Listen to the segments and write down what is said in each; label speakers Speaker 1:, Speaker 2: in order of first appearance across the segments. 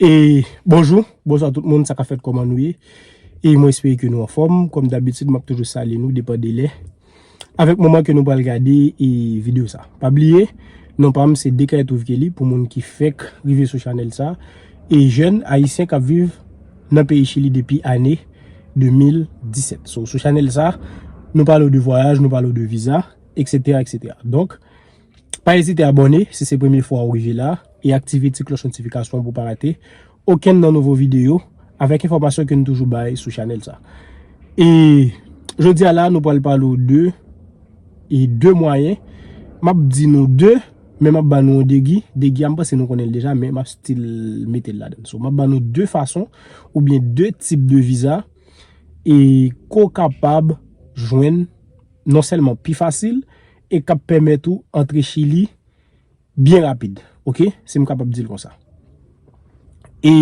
Speaker 1: E bonjou, bonjwa tout moun, sa ka fèt kòman nou ye? E mwen espere ke nou anfòm, kòm dabitid map toujou salye nou depan de lè Avèk moman ke nou pral gade e video sa Pa bliye, non pam se Dekaye Trouve Kelly pou moun ki fèk rive sou chanèl sa E jèn ayisyen kap viv nan peyi chili depi ane 2017 So sou chanèl sa, nou pale ou de vwayaj, nou pale ou de viza, eksetera, eksetera Donk Pa ezite abòne si se premye fwa ou rive la e aktive ti klòch notifikasyon pou w pa rate okenn nan nouvo videyo avèk enfòmasyon ke nou toujou bay sou chanèl sa. E jodi a la nou pral pale w de e de mwayen, m ap di nou de men m ap ba nou yon degi, degi a m panse nou konnen l deja men m ap stil mete l ladan. So m ap ba nou de fason ou byen de tip de viza e ke w kapab jwenn non sèlman pi fasil, e kap pèmèt ou antre chili byen rapid ok sim kapab dil konsa e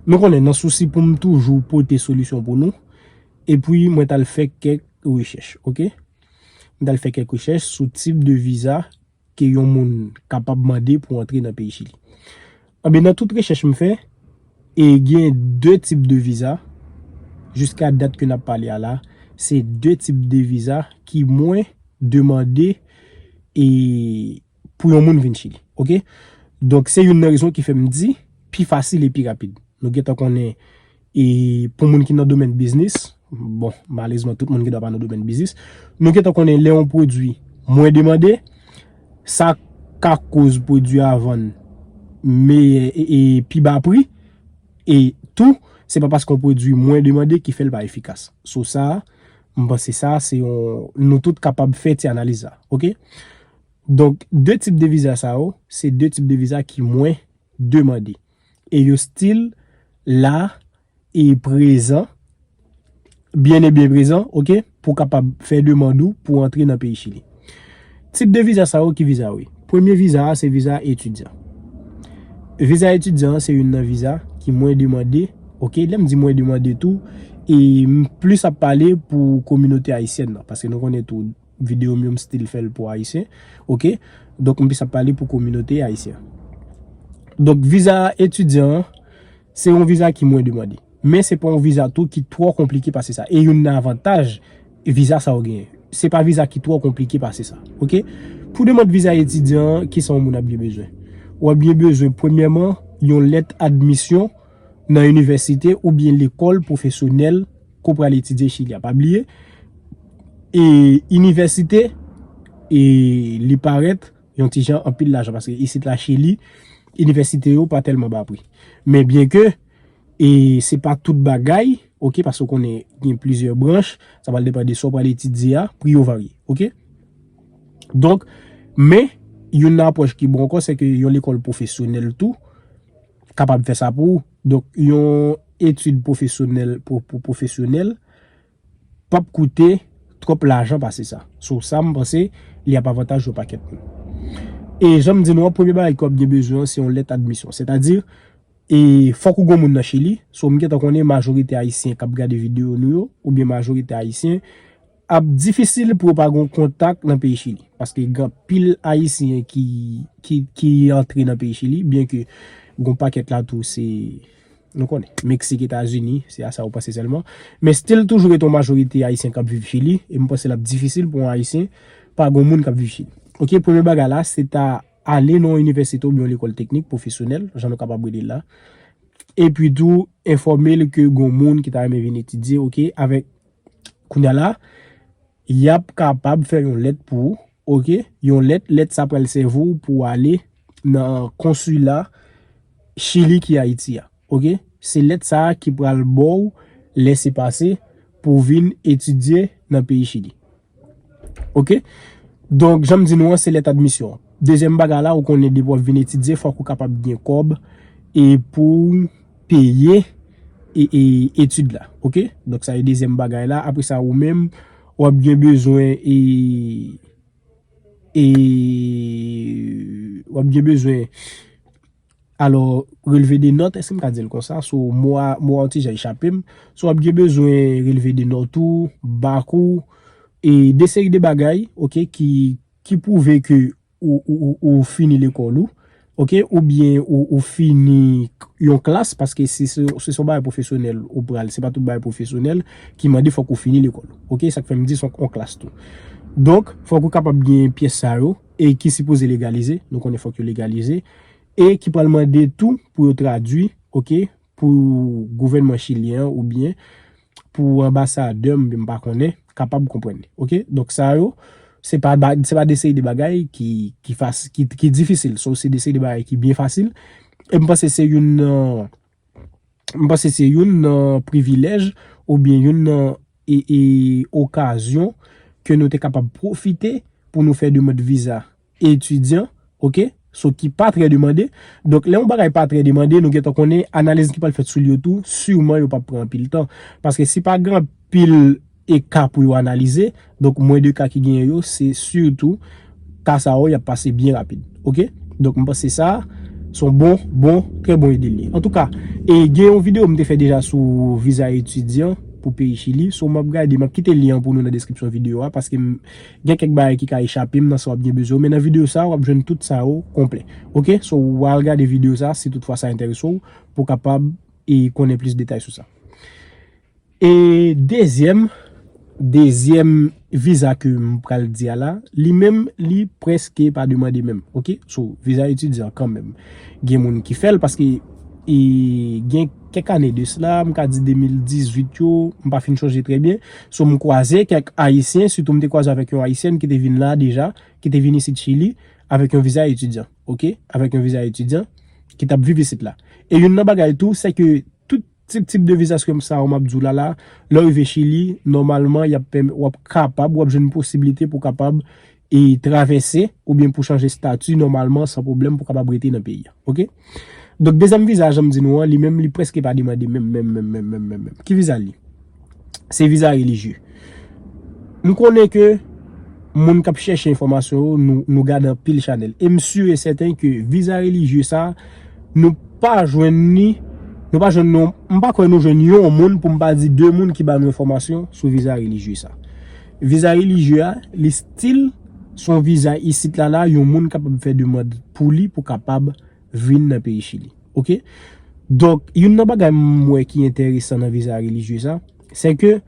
Speaker 1: nou konnen nan sousi poum toujou pote solisyon pou nou epwi mwen tal fè kèk rechèch ok mwen tal fè kèk rechèch sou tip de viza ke yon moun kapab mande pou antre nan peyi chili. Anben nan tout rechèch m fè, e gen 2 tip de viza, jiska dat ke nap pale a la, se 2 tip de viza ki mwen demande e pou yon moun vin chili. Ok. Donk se youn nan rezon ki fèm di pi fasil e pi rapid. Nou gentan konnen. E pou moun ki nan domèn biznis, bon, malezman tout moun gen dwa pa nan domèn biznis, nou gentan konnen lè yon pwodwi mwen demande, sa ka koz pwodwi a vann meyè e pi ba pri, e tou, se pa paske yon pwodwi mwen demande ki fè l pa efikas. Sou sa, m panse sa, se yon, nou tout kapab fè ti analiz sa, ok? Donk, 2 tip de viza sa yo, se 2 tip de viza ki mwen demande. e yo stil la e prezan byen e byen prezan ok pou kapab fè demand ou pou antre nan peyi chili tip de viza sa yo ki viza yo ye premye viza a se viza etidyan viza etidyan an se youn nan viza ki mwen demande ok lèm di mwen demande tou e m plis ap pale pou kominote ayisyen nan paske nou konnen tou. video m yo m still fèl pou ayisyen ok donk m plis ap pale pou kominote ayisyen donk viza etidyan an se yon viza ki mwen demande men se pa yon viza tou ki twò konplike pase sa e youn nan avantaj viza sa yo genyen se pa viza ki twò konplike pase sa ok pou demande viza etidyan an kisa yon moun ap gen bezwen ou ap gen bezwen premyèman yon lèt admisyon nan inivèsite oubyen lekòl pwofesyonèl. Ko pral etidye chili a pa bliye e inivèsite e li parèt yon ti jan anpil lajan paske isit la chili inivèsite yo pa tèlman ba pri men byen ke e se pa tout bagay ok paske konen gen plizyè branch sa pral depan de so pral etidye a pri yo varye ok donk men yon nan apwòch ki bon ankò se ke yon lekòl pwofesyonèl tou kapab fè sa pou ou. Donk yon etid pwofesyonèl pou pwofesyonèl p ap koute twòp lajan pase sa. Sou sa m panse li ap avantaj yon pakèt moun. E jan m di nou an premye bagay ke w ap gen bezwen an se yon lèt admisyon. Sètadi e fòk ou gen yon moun nan Chili. So m gentan konnen majorite ayisyen k ap gade videyo nou yo oubyen majorite ayisyen. Ap difisil pou yo pa gon kontak nan peyi chili paske gen anpil ayisyen ki antre nan peyi chili byen ke gon pakèt la tou se nou konnen meksik etazini se a sa ou panse sèlman men stil toujou gen ton majorite ayisyen kap viv chili e m panse lap difisil pou yon ayisyen pa gon moun kap viv chili ok premye bagay la se ta ale nan yon inivèsite oubyen yon lekòl teknik pwofesyonèl jan nou kapab rele l la epi tou enfòme l ke gon moun ki ta renmen vin etidye ok avèk Kounye a la, y ap kapab fè yon lèt pou ou, ok, yon lèt, lèt sa pral sèvi w pou w ale nan konsila Chili ki Ayiti a, ok. Se lèt sa a ki pral ba w lèsepase pou w vin etidye nan peyi Chili. Ok. Donk, jan m di nou an, se lèt admisyon an. Dezyèm bagay la, ou konnen depi w ap vin etidye, fòk ou kapab gen kòb e pou w peye etid la. Ok. Donk, sa e dezyèm bagay la. Apre sa, ou menm, w ap gen bezwen e, e, w ap gen bezwen. Alò, relve de nòt, èske m ka di l konsa? So, mo a, mo a yon ti jan echape m. So, w ap gen bezwen relve de nòt ou, bak ou, e de seri de bagay, ok, ki, ki pwouve ke ou, ou, ou, ou fini lekòl ou, ok, oubyen ou, ou fini yon klas, paske se, se se yon bagay pwofesyonèl ou pral, se pa tout bagay pwofesyonèl ki mande fòk ou fini lekòl. Ok, sa k fè m di se yon klas tou. Donk, fòk ou kapab gen pyès sa yo. e ki sipoze legalize, nou konnen fòk yo legalize, e ki pral mande tou pou yo tradui, ok, pou gouvènman chilyen an oubyen pou anbasadè m, m pa konnen, kapab konprann li. Ok, donk sa yo, se pa de seri de bagay ki difisil, so se de seri de bagay ki byen fasil, e m panse se youn nan m panse se youn nan privilèj oubyen youn nan okazyon ke nou te kapab pwofite pou nou fè demand viza etidyan, ok, so ki pa trè demande. Donk, lè yon bagay pa trè demande, nou gentan konnen analiz ki pral fèt sou li yo tou, siman yo pa pran anpil tan. Paske si pa gen anpil. e ka pou yo analize, donk mwen de ka ki genyen yo se sitou ka sa yo y ap pase byen rapid ok, donk m panse sa se yon bon bon trè bon ide li ye antouka e gen yon videyo m te fè deja sou viza etidyan pou peyi chili so m ap gade m ap kite lyen an pou nou nan deskripsyon videyo a paske m gen kèk bagay ki ka echape m nan sa w ap gen bezwen men nan videyo sa w ap jwenn tout sa yo konplè ok so w al gade videyo sa si tout fwa sa enterese w pou w kapab e konnen plis detay sou sa. E dezyèm, dezyèm viza ke m pral di a la, li menm li preske pa demande menm. Ok, so viza etidyan kan menm. Gen moun ki fè l paske e gen kèk ane de sla, m ka di 2018 yo, m pa fin chonje trè byen. So m kwaze kèk ayisyen, sitou m te kwaze avèk yon ayisyèn ki te vin la deja, ki te vin isit chili avèk yon viza etidyan. Ok, avèk yon viza etidyan ki t ap viv isit la. E youn nan bagay tou, se ke tout. Tip tip de visa skem sa yo map di w la la, lè w rive Chili, nòmalman y ap pèmè, w ap kapab, w ap jwenn posibilite pou w kapab e travèse oubyen pou w chanje stati nòmalman san pwoblèm pou w kapab rete nan peyi a. Ok. Donk dezyèm viza a jan m di nou an, li menm li prèske pa demande menm menm menm menm menm menm menm. Ki viza l ye? Se viza relijye. M konnen ke moun kap chèche enfòmasyon yo nou gade anpil chanèl. E m si e sèten ke viza relijye sa nou pa jwenn ni nou pa jwenn nou m pa kwè nou jwenn yon moun pou m pa di 2 moun ki ba nou enfòmasyon sou viza relijye sa. Viza relijye a li stil son viza isit la la yon moun kapab fè demand pou li pou kapab vin nan peyi chili ok donk youn nan bagay m wè ki enteresan nan viza relijye sa se ke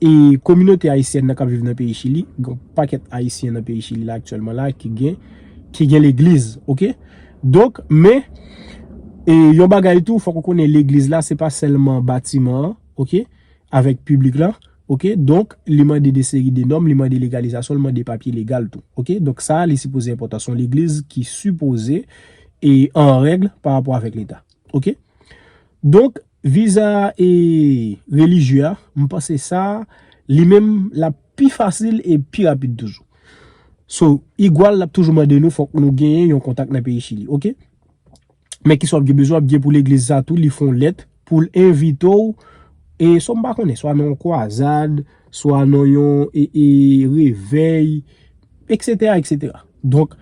Speaker 1: e kominote ayisyèn nan kap viv nan peyi chili gon pakèt ayisyen nan peyi chili la aktyèlman la ki gen ki gen legliz ok donk men e yon bagay tou fòk ou konnen legliz la se pa sèlman batiman an ok avèk piblik la. Ok donk li mande de seri de nòm li mande legalizasyon li mande papye legal tou ok donk sa li sipoze enpòtan son legliz ki sipoze e an règle pa rapò avèk leta ok donk viza e relijye a m panse sa li menm la pi fasil e pi rapid toujou so igual lap toujou mande nou fòk nou genyen yon kontak nan peyi chili ok. Men kisa wap gen bezwen, wap gen pou legliz sa tou li fon lèt poul envite w e sa m pa konnen, swa nan yon kwazad, swa nan yon e revèy, eksetera, eksetera. Donk,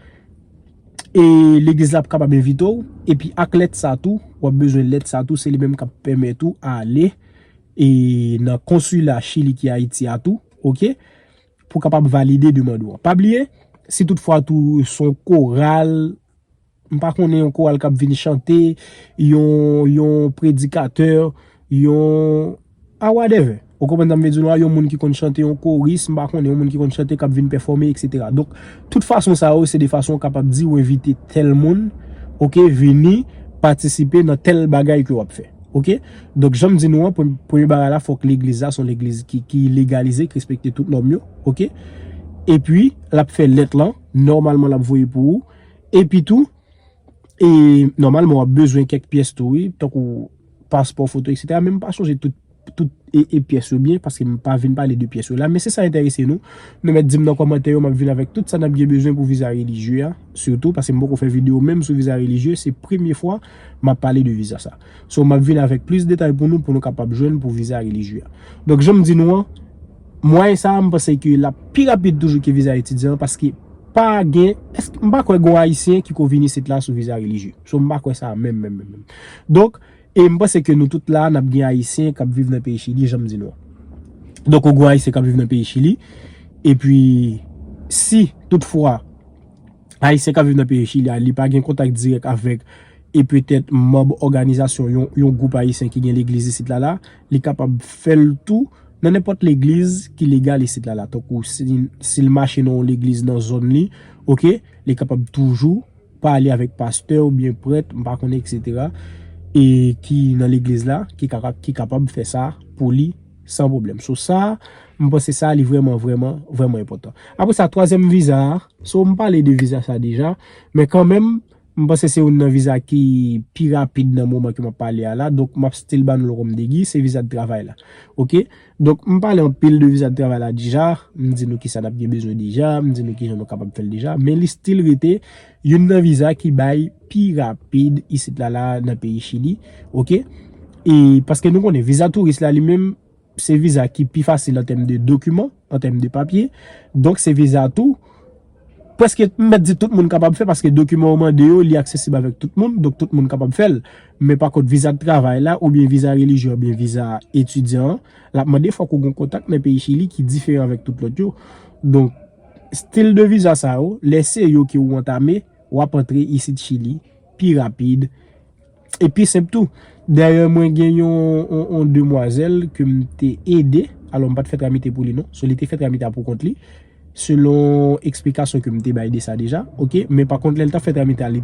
Speaker 1: e legliz la ap kapab envite w, epi ak lèt sa tou, wap bezwen lèt sa tou, se li menm kap pèmèt ou ale e nan konsila chili ki ayiti a tou, ok, pou kapab valide demand ou an. Pa bliye, si tout fwa tou son koral. M pa konnen yon koral k ap vin chante, yon predikatè, yon a wadèvè. Ou konprann sa m vle di w la? Yon moun ki konn chante, yon koris, m pa konnen, yon moun ki konn chante k ap vin pèfòme, eksetera. Donk, tout fason sa yo se de fason ou kapab di ou envite tèl moun, oke, vini patisipe nan tèl bagay ke w ap fè. Oke? Donk, jan m di nou an, premye bagay la, fòk legliz la se yon legliz ki legalize, ki respekte tout nòm yo. Oke? Epi, l ap fè lèt lan, nòmalman l ap voye pou ou. Epi tou, e, nòmalman w ap bezwen kèk pyès tou wi, tankou paspò, foto eksetera, men m pa chonje tout, tout e, e pyès yo byen, paske m pa vin pale de pyès yo la, men se sa enterese nou, nou mèt di m nan kòmantè yo, m ap vin avèk tout sa n ap gen bezwen pou viza relijye a, sitou, paske m poko fè videyo menm sou viza relijye, se premye fwa m ap pale de viza sa. So map vin avèk plis detay pou nou pou nou kapab jwenn pou viza relijye a. Donk janm di nou an, mwayen sa a m panse ke lap pi rapid toujou ke viza etidyan an paske pa gen, èske, m pa kwè gon ayisyen ki ko vin isit la sou viza relijye. So m pa kwè sa menm menm menm menm. Donk, e m panse ke nou tout la a nap gen ayisyen kap viv nan peyi Chili janm di nou an. Donk ou gon ayisyen kap viv nan peyi Chili, epi si tout fwa, Ayisyen k ap viv nan peyi Chili a, li pa gen kontak dirèk avèk e petèt manb òganizasyon yon gwoup ayisyen ki gen legliz isit la la, li kapab fè l tou nan nenpòt legliz ki legal isit la la. Tankou si l mache nan yon legliz nan zòn li, oke, li kapab toujou pale avèk pastè oubyen prèt, m pa konnen eksetera, e ki nan legliz la, ki kapab fè sa pou li san pwoblèm. So sa, m panse sa li vrèman vrèman vrèman enpòtan. Apre sa, twazyèm viza a. So m pale de viza sa deja, men kanmenm m panse se youn nan viza ki pi rapid nan moman ke m ap pale a la, donk m ap still ba nou l kòm degi, se viza travay la. Ok, donk m pale anpil de viza travay la deja, m di nou ki sa n ap gen bezwen deja, m di nou ki jan nou kapab fè l deja, men li still rete youn nan viza ki bay pi rapid isit la la nan peyi Chili. Ok, e paske nou konnen viza touris la li menm, Se viza ki pi fasil an tèm de dokiman, an tèm de papye. Donk se viza tou, pwèske m mèt di tout moun kapab fè, paske dokiman ou mande yo, li aksesib avèk tout moun, donk tout moun kapab fè l. Men pa kont viza travay la, oubyen viza relijyon, oubyen viza etidyan an, l ap mande fòk ou gen kontak nan peyi Chili ki diferan avèk tout lòt yo. Donk, stil de viza sa yo, lè se yo ke ou antame, w ap antre isit Chili pi rapid. E pi senp tou. Dayè mwen gen yon demwazèl ke m te ede, alò m pa t fè tramite pou li non, sou li te fè tramite a pou kont li, selon eksplikasyon ke m te bay de sa deja, ok, men pa kont lè l t ap fè tramite a li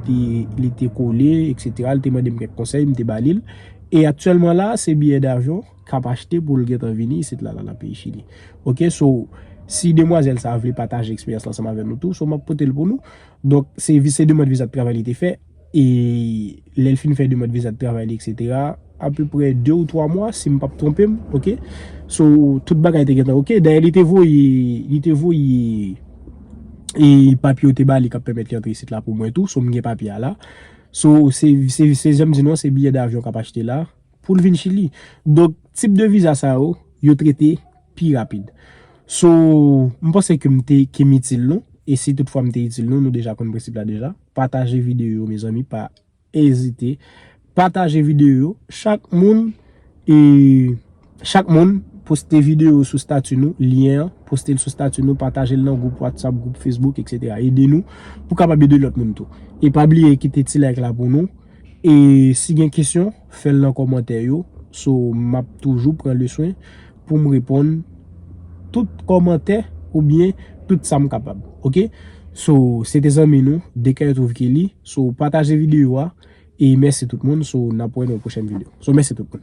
Speaker 1: te kole, eksetera, li te mande m kèk konsèy, m te ba li l, e aktyèlman la, se biyè davyon k ap achte pou l gen tan vini isit la, la nan peyi Chili. Ok, so, si demwazèl sa a vle pataje eksperyans l ansanm avè nou tou, so m ap pote l pou nou. Donk, se demand viza de travay li te fè. E lè l fin fè demand viza de travay li etc apeprè 2 ou 3 mwa si m pap twonpe m ok. So tout bagay te gentan ok. Dayè li te voye li te voye e papye yo te ba li kap pèmèt li antre isit la pou mwen tou. So m gen papye a la. So se se se jan m di nou an se biyè davyon kap achte la. pou l vin Chili. Donk, tip de viza sa yo, yo trete pi rapid. So, m panse ke m te, ke m itil nou. E si tout fwa m te itil nou, nou deja konn prensip la deja. Pataje videyo yo mezanmi, pa ezite. Pataje videyo yo. Chak moun, e, chak moun, poste videyo yo sou stati nou, lyen an, poste l sou stati nou, pataje l nan gwoup WhatsApp, gwoup Facebook, etc. Ede nou, pou kapab ede lòt moun tou. E pa bliye kite ti like la pou nou. E si gen kesyon, fèl nan kòmantè yo, so map toujou pran le swen poum reponn tout kòmantè ou byen tout sam kapab ok so se te zanmi nou Decaetrovkely so pataje video a e mèsi tout moun so nap wè nan yon pwochèn video so mèsi tout moun.